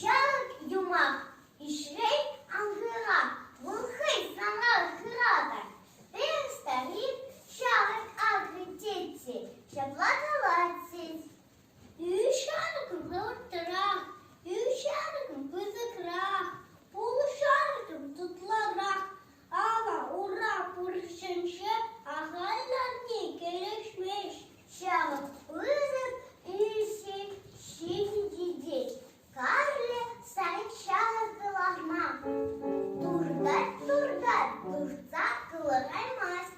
Ҫак юмах ишрен ангыра вӑл хӑй санран хыратӑр. Пен старик ҫавӑн агри тетси ҫапла калать. Ӳҫанкӑ вӑрттӑрах, ӳҫанкӑ пысӑкрах, улшанкӑ тутлӑрах. Ава ура пурҫӑнче ахаль ларни кӗрешмест. Ҫавӑ пысӑк ӳсӗм ҫитӗнтерет. Калле сай ҫавӑркӑ ларма туртать-туртать, туртса кӑлараймасть.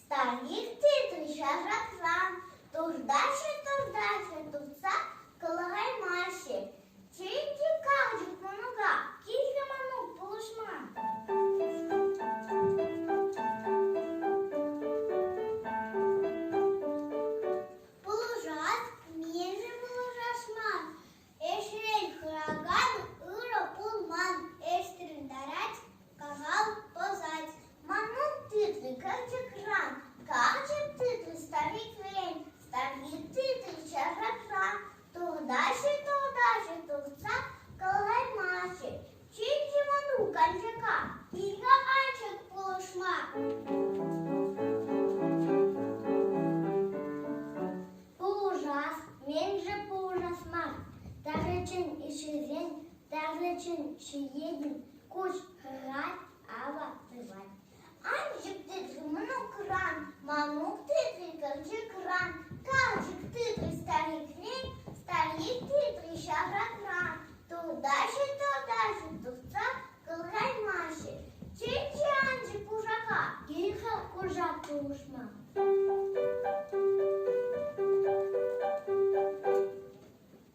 Станике трича шарсан туртаҫҫӗ-туртаҫҫӗ туртса кӑлараймаҫҫӗ. Чӗнчӗ калчӑк мӑнука килте мӑнук пулӑшма. Пулӑшать, мӗншӗн пулӑшас мар? Ӗҫрен хӑракан ырӑ пулман, ӗҫтӗрӗнтарать, кахал пӑсать. Манӑн тытли кӑчӑкран, карчӑк тытли старикран, старик тытли чашакран. Туртаҫҫӗ, туртаҫҫӗ, туртса кӑлармаҫҫӗ. Тетте мӑнук Анчака икӗ ачӑк пулӑшма. Пулӑшас, мӗншӗн пулӑшас мар? Ташӑ чин ҫӳрен, ташӑ чин ҫиен куҫ хырать, ава сывать. Анчӑк тытрӗ мӑнукран, мамук тытрӗ кӑлчӑкран, калчӑк тытрӗ старикрен, старик тытрӗ ҫавракран. Тутаҫӑ, тутаҫӑ туртса кӑлкаймаҫҫӗ. Чӗнчӗ анчӑк кушака, икӗ кушак пулӑшма.